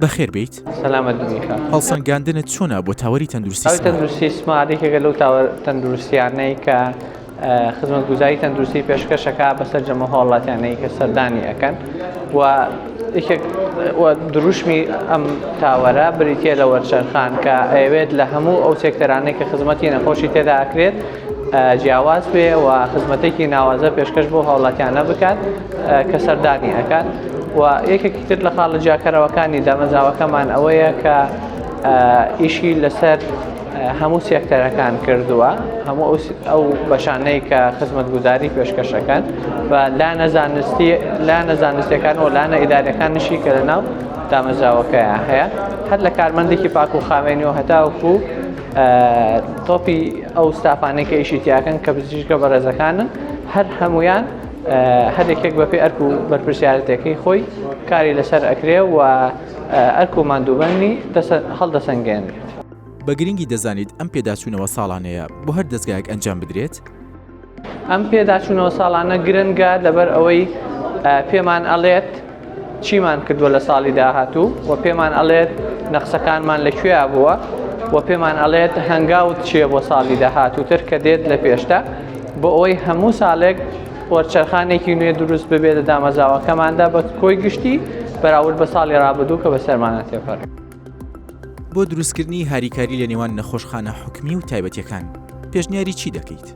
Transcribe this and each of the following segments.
بەخێر بێیت. سەلامەت بن میکا. هەڵسەنگاندنت چۆنە بۆ تاوەری تەندروستی سمارت؟ تەندروستی سمارت یەکێکە لەو تاوە تەندروستیانەی کە خزمەتگوزاری تەندروستی پێشکەشەکە بە سەرجەمە هاوڵاتیانەی کە سەردانی ئەەکەن و یەکێک دروشمی ئەم تاوەرە بریتە لە وەرچەرخان کە ئەوێت لە هەموو ئەو سێکتەرانەی کە خزمەتی نەخۆشی تێداکرێت جیاواز بێ و خزمەتێکی ناوازە پێشکەش بۆ هاوڵاتیانە بکات کە سەردانی ئەکات و یەکێکی تر لە خاڵە جیاکەرەوەکانی دامەزاوەکەمان ئەوەیە کە ئیشی لەسەر هەموو سێکتەرەکان کردووە هەموو ئەو بەشانەی کە خزمەت گوزاری پێشکەشەکان و لا نەزانستی لا نەزانستەکان و لانە ئیدارەکان نشی کە لە ناو دامەزراوەکەیان هەیە هەر لە کارمەندێکی پاک و خاوێنی و هەتاوکو تۆپی ئەو ستافانەی کە ئیشی تیاکەن کە بزیشکە بەڕێزەکانن هەر هەمویان هەرێکێک بەپی ئەرک و بەرپرسیارەتەکەی خۆی کاری لەسەر ئەکرێ و ئەرک و مادووبەنی هەڵدەسەنگێنێت. بە گرنگی دەزانیت ئەم پێداچوونەوە ساڵانەیە بۆ هەر دەزگایەک ئەنجام بدرێت؟ ئەم پێداچوونەوە ساڵانە گرنگە لەبەر ئەوەی پێمان ئەڵێت چیمان کردووە لە ساڵی داهاتوو و پێمان ئەڵێت نەخسەکانمان لە کوێیا بووە و پێمان ئەڵێت هەنگاوت چیە بۆ ساڵی داهاتووتر کە دێت لە پێشتە بۆ ئەوەی هەموو ساڵێک وەرچەرخانێکی نوێ دروست ببێت لە دامەزاوەکەماندا بە کۆی گشتی بەراورد بە ساڵی ڕابدوو کە بە سەرمانە تێپەر. بۆ دروستکردنی هاریکاری لە نێوان نەخۆشخانە حکومی و تایبەتیەکان پێشنیاری چی دەکەیت؟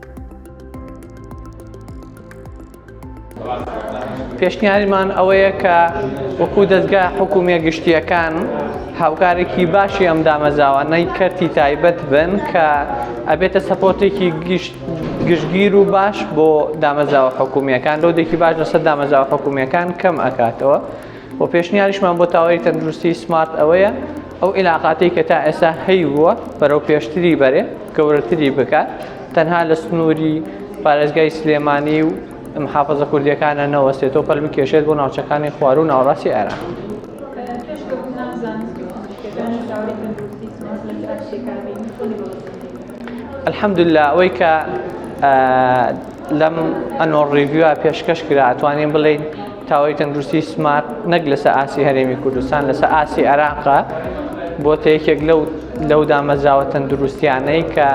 پێشنیاریمان ئەوەیە کە وەکو دەستگا حکوومیە گشتیەکان هاوکارێکی باشی ئەم دامەزاوانەی کەرتی تایبەت بن کە ئەبێتە سەپۆتێکی گشتگیر و باش بۆ دامەزاوە حکوومیەکان لۆدێکی باش لەسەر دامەزاوە حکوومیەکان کەم ئەکاتەوە. وە پێشنیاریشمان بۆ تاوەری تەندروستی سمارت ئەوەیە ئەو ئیلاقاتی کە تا ئێسا هەیووە بەرەو پێشتری بەرێ گەورەتری بکات تەنها لە سنووری پارێزگای سلێمانی و محافظە کوردیەکانە نەوەستێتەوە پەل بکێشێت بۆ ناوچەکانی خواروو ناوڕاستی عێراق. الحمدللە ئەوەی کە لەم ئەنۆ ڕیڤیوە پێشکەش کرا ئەتوانین بڵین تاوەی تەندروستی سمارت نەک لەسە ئاسی هەرێمی کوردستان لەسە ئاسی عێراقە بۆ تە یەکێک لەو لەو دامەزراوە تەندروستیانەی کە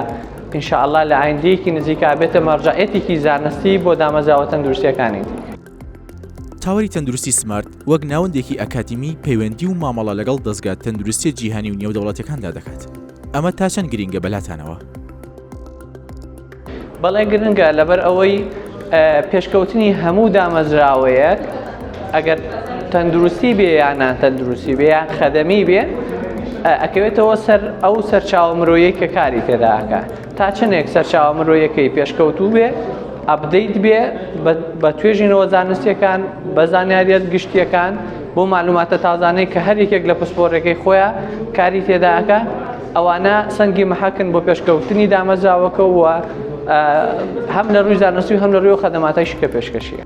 انشاءاللە لە ئایندەیەکی نزیکا بێتە مەرجەعیەتێکی زانستی بۆ دامەزراوە تەندروستیەکانی دیکە. تاوەری تەندروستی سمارت وەک ناوەندێکی ئەکادیمی پەیوەندی و مامەڵە لەگەڵ دەستگا تەندروستیە جیهانی و نێودەوڵەتەکاندا دەکات ئەمە تا چەند گرینگە بەلاتانەوە؟ بەڵێ گرنگە لەبەر ئەوەی پێشکەوتنی هەموو دامەزراوەیەک ئەگەر تەندروستی بێ یانان تەندروستی بێ یان خەدەمی بێ ئەکەوێتەوە سەر ئەو سەرچاوە مرۆیەک کە کاری تێداکە تا چنێک سەرچاوە مرۆیەکەی پێشکەوتوو بێ ئەبدەیت بێ بە توێژینەوە زانستیەکان بە زانیاریت گشتیەکان بۆ معلوماتە تازانەی کە هەر یەکێک لە پسپۆرەکەی خۆیان کاری تێداکە ئەوانە سەنگی محەکن بۆ پێشکەوتنی دامەزراوەکە وە هەم لە ڕووی زانستی و هەم لە ڕووی خەدەماتای شکە پێشکەشیە.